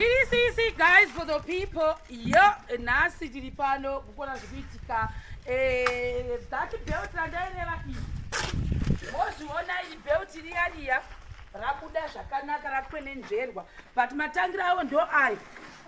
Sisi guys for the people yo nhasi tiri pano kukona zvikuitika eh, that belt randaireva iyi mozviona iyi belt riyariya rabuda zvakanaka rakwenenzverwa but matangira avo ndo ayo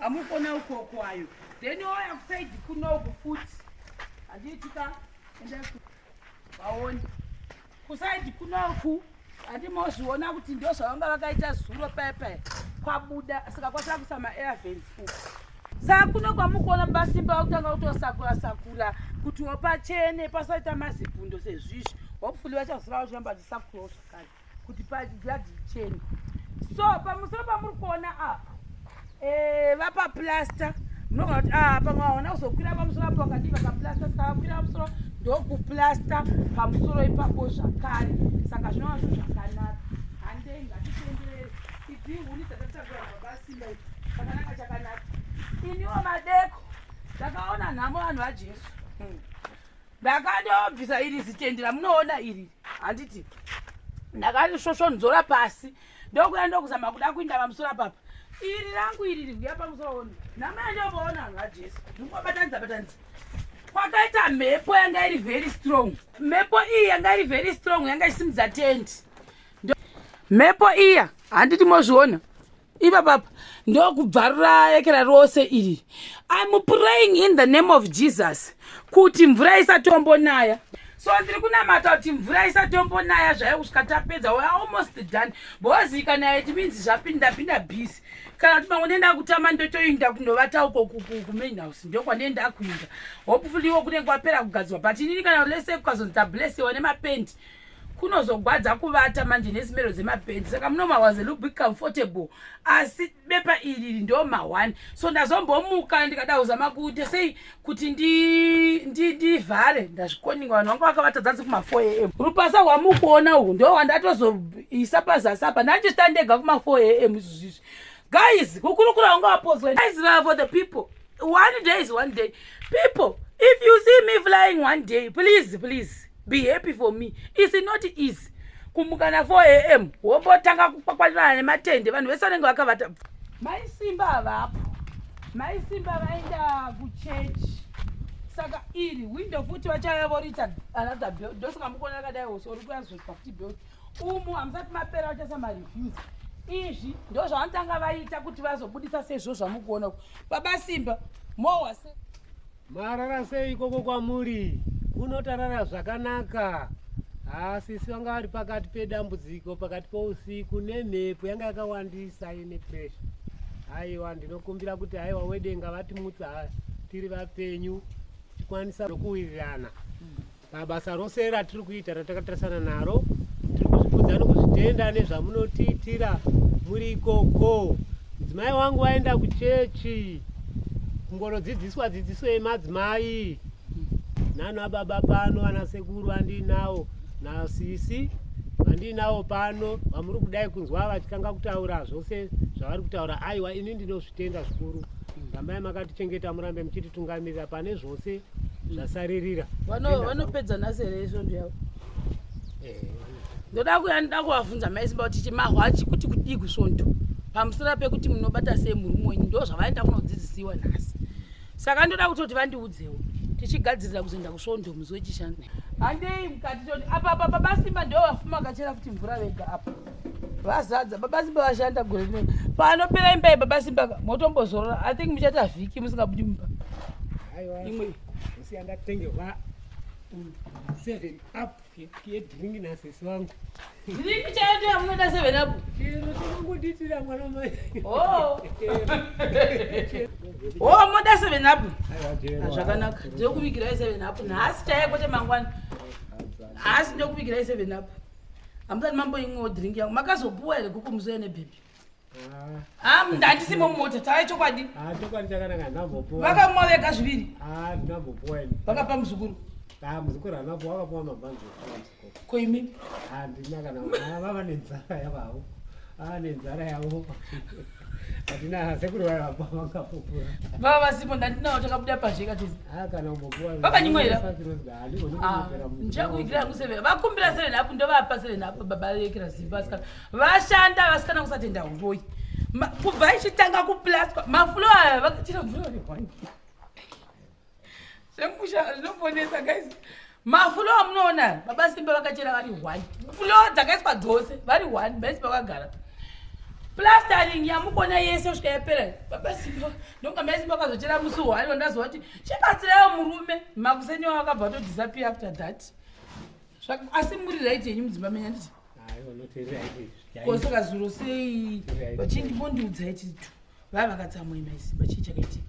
amukona ukoko ayo then oya kusaidi kunoku futi handiitika vaone Kusaidi kunoku andimozviona kuti ndozvavanga vakaita zuro paya paya kwabuda saka kwasara kusa maairvens uku saka kuno kwamukuona basimba vakutanga kutosakura sakura kuti wopachene pasaita mazibvundo sezvizvi hopefully vachaziva vachiramba vachisakurawo zvakare kuti payadhi chene so pamusoro pamuri kuona apa eh, vapa plaster munogona kuti ah, pamwe vaona kuzokwira pamusoro apo vakadii vakaplaster saka vakwira pamusoro ndokuplaster pamusoro ipapo zvakare saka zvinova zvinhu zvakanaka handei ngatitenderere idzi huni dzatataura babasimba idzi chakanaka chakanaka iniwo madeko ndakaona nhamo vanhu vajesu hmm. ndakandobvisa iri zitendera munoona iri handiti ndakati svosvonzora pasi ndokuya ndokuzama kuda kuinda pamusoro papa iri rangu iri riuya pamusoro namaya ndovaona vanhu vajesu ndingobatanidza batanidza kwakaita mhepo yanga iri very strong mhepo iyi yanga iri very strong yanga isimudza tenti mhepo iya handiti mozviona ipapapa ndokubvarura ekera rose iri im praying in the name of jesus kuti mvura isatombonaya so ndiri kunamata kuti mvura isatombonaya zvayo kusvika tapedza we almost done because ikanaya it means zvapinda pinda busy kana kuti mamwe nenda kutama ndotoinda kunovata uko kumain house ndokwanenda kuinda hopefully wo kunenge kwapera kugadzirwa but inini kana lese kukazonzi tablessewa nemapendi kunozogwadza kuvata manje nezimero dzemabhendi saka muno mawaze look be comfortable asi bepa iri ndo ma1 so ndazombomuka ndikada kuzama kuita sei kuti ndivhare ndi, ndi ndazvikoninga vanhu vanga vakavata dzanzi kuma4 am rupasa rwamukuona uhu ndo wandatozoisa pazasi apa ndandichitandega kuma4 am izvozvizvi guys kukurukura vanga vapodzwa guys vavo the people one day is one day people if you see me flying one day please please be happy for me is not easy kumuka na 4 am wombotanga kukwakwanirana nematende vanhu vese vanenge vakavata mai simba havapo mai simba vaenda kuchechi saka iri window futi vachaya vorita another bel ndosaka mukuona akadai ose uri kuyazvozwa kuti bel umu hamusati mapera vachaisa mareviews izvi ndo zvavanotanga vaita kuti vazobudisa sezvo zvamukuona ku baba simba mowa se marara sei ikoko kwamuri kunotarara zvakanaka hasisi vanga vari pakati pedambudziko pakati pousiku nemhepo yanga yakawandisa ine presha haiwa ndinokumbira kuti haiwa wedenga vatimutsa tiri vapenyu tikwanisa nokuwirirana Pabasa rose ratiri kuita ratakatarisana naro tiri kuzvikudza nokuzvitenda nezvamunotiitira muri ikoko. Mudzimai wangu vaenda kuchechi kungonodzidziswa dzidziso yemadzimai nano ababa pano vana sekuru vandiinawo nasisi vandiinawo pano vamuri kudai kunzwa vachitanga kutaura zvose zvavari kutaura aiwa ini ndinozvitenda zvikuru rambai makatichengeta murambe muchititungamirira pane zvose zvasaririra vanopedza nhasi here svondo yavo eh, ndoda kuya ndoda kuvabvunza maisimba kuti chimahwachi kuti kudii kusvondo pamusoro pekuti munobata sei murume wenyu ndo zvavaenda kunodzidzisiwa nhasi saka ndoda kutoti vandiudzewo tichigadzirira kuzoenda kusvondo muzi wechishanda handei mukati toti apa apa pabasimba ndo vafuma kachera kuti mvura vega apa vazadza baba simba vashanda gore rino panopera imba yebaba simba motombozorora i think muchaita vhiki musingabudi mumba imwe siyandatengerwa seven up yedrink nasisi vangu drink chaiyo ndiyo yamunoita seven up chero tinongodiitira mwana mai oh. oh moda seven up ah, zvakanaka ndinokuvigirai seven up nhasi chaiye kwete mangwana nhasi ndinokuvigirai seven up Hamudani mambo imwewo drink yangu. Makazopuwa here kuku muzoya nebhebhi? Ah, ah ndandisimo mumota tava chokwadi. Ah, chokwadi chakanaka ndambopuwa. Vakamwa vega zviviri. Ah, ndambopuwa ini. Vakapa muzukuru. Ah, muzukuru anapo wakapuwa mabhanzi. Ko imi? Ah, ndina kana vava nenzara yavavo. Ah, nenzara yavo. vava vasipo ndandinawo takabuda pazhe katizvandichakuikira yangu seven vakumbira seven apo ndovapa seven apo baba vekira zimba vasikana vashanda vasikana kusatenda uroyi kubva ichitanga kuplaswa mafulo aya vakatira mvura Zvemusha zvinoponesa guys. Mafulo amunoona baba Simba vakachera vari one. Fulo dzakaiswa dzose vari one base vakagara. Plastering yamukona yese kusvika yapera. Baba Simba ndonga mai Simba vakazochera musi one wandazowa kuti chibatsirayo murume makuseni wakabva to disappear after that. Asi muri right yenyu mudzimba menyu handiti? Kosaka zuro sei vachindipondiudza iti vava vakatsamwa mai Simba chii chakaitika?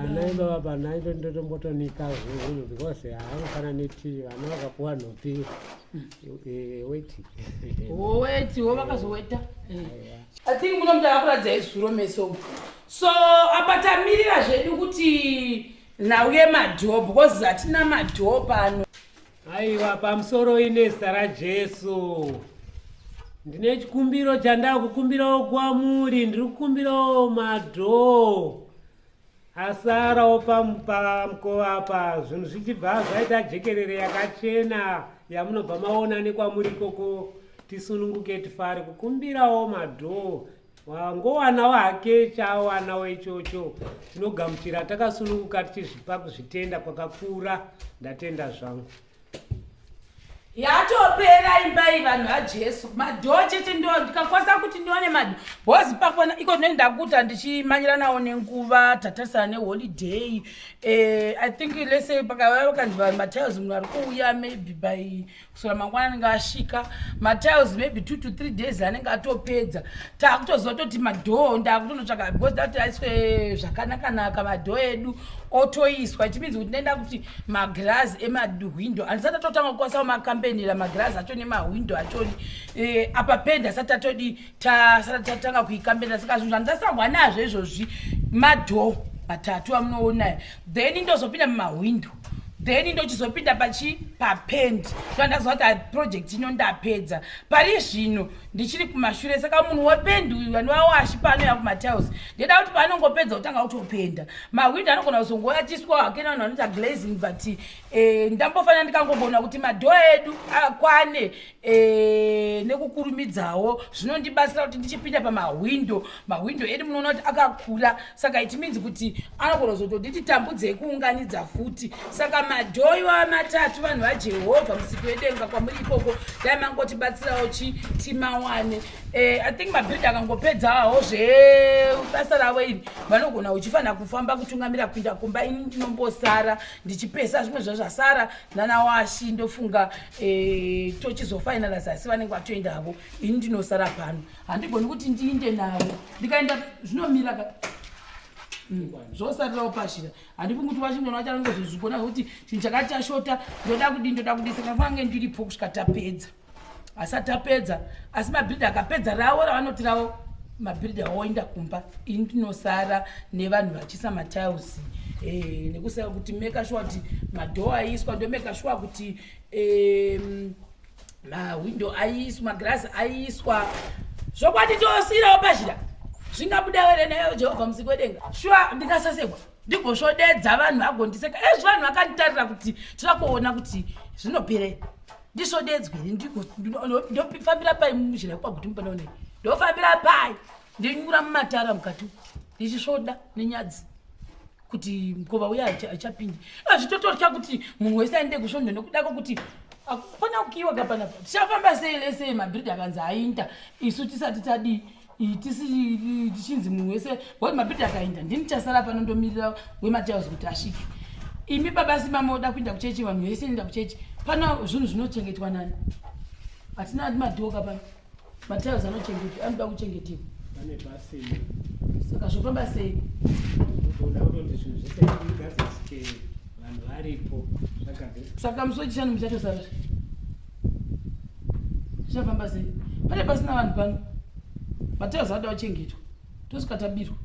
anaimba baba naito ndotombotonika zvinhu because haanofana neti vana vakapuwa nhopi weti weti wo vakazoweta i think muno muda vakuratidza izuro meso so apa tamirira zvedu kuti nhau yemadhoo because hatina madhoo pano Aiwa, pamusoro ine zita raJesu. Ndine chikumbiro chandaa kukumbirawo kwamuri, ndiri kukumbirawo madhoo asarawo pamukova apa, zvinhu zvichibva zvaita jekerere yakachena yamunobva maona nekwamuri ikoko, tisununguke tifare kukumbirawo madhoo wangowanawo hake chaawanawo ichocho tinogamuchira takasununguka tichizvipa kuzvitenda kwakakura ndatenda zvangu yatopera imba iyi vanhu vajesu madhoo chete ndo ndikakwasa kuti ndione madho bhozi pakona iko zvinoi ndakuta ndichimanyira nawo nenguva tatarisana neholiday um eh, i think lese pakavaa vakanzi vanhu matiles munhu ari kuuya maybe by kusora mangwana anenge asvika matiles maybe two to three days anenge atopedza taakutoziva toti madhoo ndaakutonotsvaka because dati aiswe zvakanakanaka madhoo edu otoiswa ichimidzi kuti ndaenda kuti magirazi emahwindo andisati atotanga kukwasawo makambenira magirazi acho nemahwindo achoni eh, apa penda asati atodi tasati tatanga kuikambenira saka zvinhu zvandasahwa nazvo izvozvi madhoo matatu amunoonayo then ndozopinda mumahwindo then ndochizopinda pachi papend so ndaziva kuti project ino ndapedza pari zvino ndichiri kumashure saka munhu wependi uyu vanovawo ashipano yakumatiles ndeda kuti paanongopedza kutanga kutopenda mahwindo anogona kuzongoyatiswa hakena vanhu vanoita glazing but eh, ndambofanira ndikangogona kuti madhoa edu akwane Eh, nekukurumidzawo zvinondibatsira kuti ndichipinda pamahwindo mahwindo edu munoona kuti akakura saka it means kuti anogona kuzotonditi tambudzei kuunganidza futi saka madhoiwa matatu vanhu vajehovha musiki wedenga kwamuri ikoko dai mangotibatsirawo chi timawane eh, i think mabhiridha akangopedzawo zvebasa ravo iri vanogona uchifanira kufamba kutungamira kupinda kumba ini ndinombosara ndichipesa zvimwe zvazvasara nana washi ndofunga Eh, tochizofinalize asi vanenge vatoenda havo ini ndinosara pano handigoni kuti ndiinde navo ndikaenda zvinomira ka hmm, zvosarirawo pashira handifungi kuti washington wachange zozvigona zvekuti chinhu chakati chashota ndoda kudii ndoda kudii saka fange ndiripo kusvika tapedza asi atapedza asi mabhiridha akapedza ravo ravanoti ravo mabhiridha oenda kumba ini ndinosara nevanhu vachi kuisa matiles eh, nekusava kuti meka shuwa kuti madhoo aiswa ndomeka shuwa kuti eh, mahwindo aiswa magirazi aiswa zvokwadi tosiirawo pazhira zvingabuda were nayo jehovha musiki wedenga shuwa ndingasasekwa ndigosvodedza vanhu agondiseka ezvi eh, vanhu vakanditarira kuti toda kuona kuti zvinoperei ndisvodedzwe ndigofambira pai muzhira kwaguti mupanaonei ndofambira pai ndinyura mumatara mukati uku ndichisvoda nenyadzi kuti mukova uya haichapindi azvitotorya kuti munhu wese aende kusvondo nekuda kwokuti akufana kukiwa kapanapa tichafamba sei lese mabhiridha akanzi ainda isu tisati tadii tichinzi munhu wese wati mabhiridha akainda ndini chasara pano ndomirira wematiles kuti asvike imi baba simba moda kuinda kuchechi vanhu vese enda kuchechi pano zvinhu zvinochengetwa nani hatina madhoka pano Matiles anochengetwa, anoda kuchengetewa. Pane basa iri. Saka zvofamba sei? Unoda kuti zvinhu zvese zvigadzirisike vanhu varipo zvagadzirisika. Saka musi wechishanu muchatosara zve. Zvichafamba sei? Pane pasina vanhu pano. Matiles anoda kuchengetwa. Tosvika tabirwa.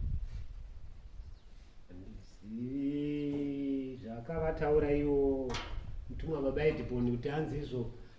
Handizivi zvakavataura iwo mutumwa baba Ediponi kuti hanzi izvo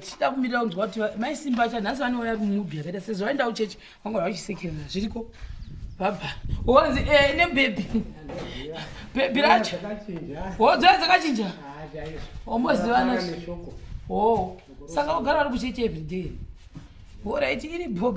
tichida kumira kunzwa kuti maisimba acha nhasi vanouya mumudhu yakaita sezvo vaenda kuchechi vanga vachisekerera zviriko baba wanzi eh, nebhebhi bhebhi racho wodzaya oh, dzakachinja wambozivana ah, o oh, saka wagara vari kuchechi everyday horaiti iri bhoga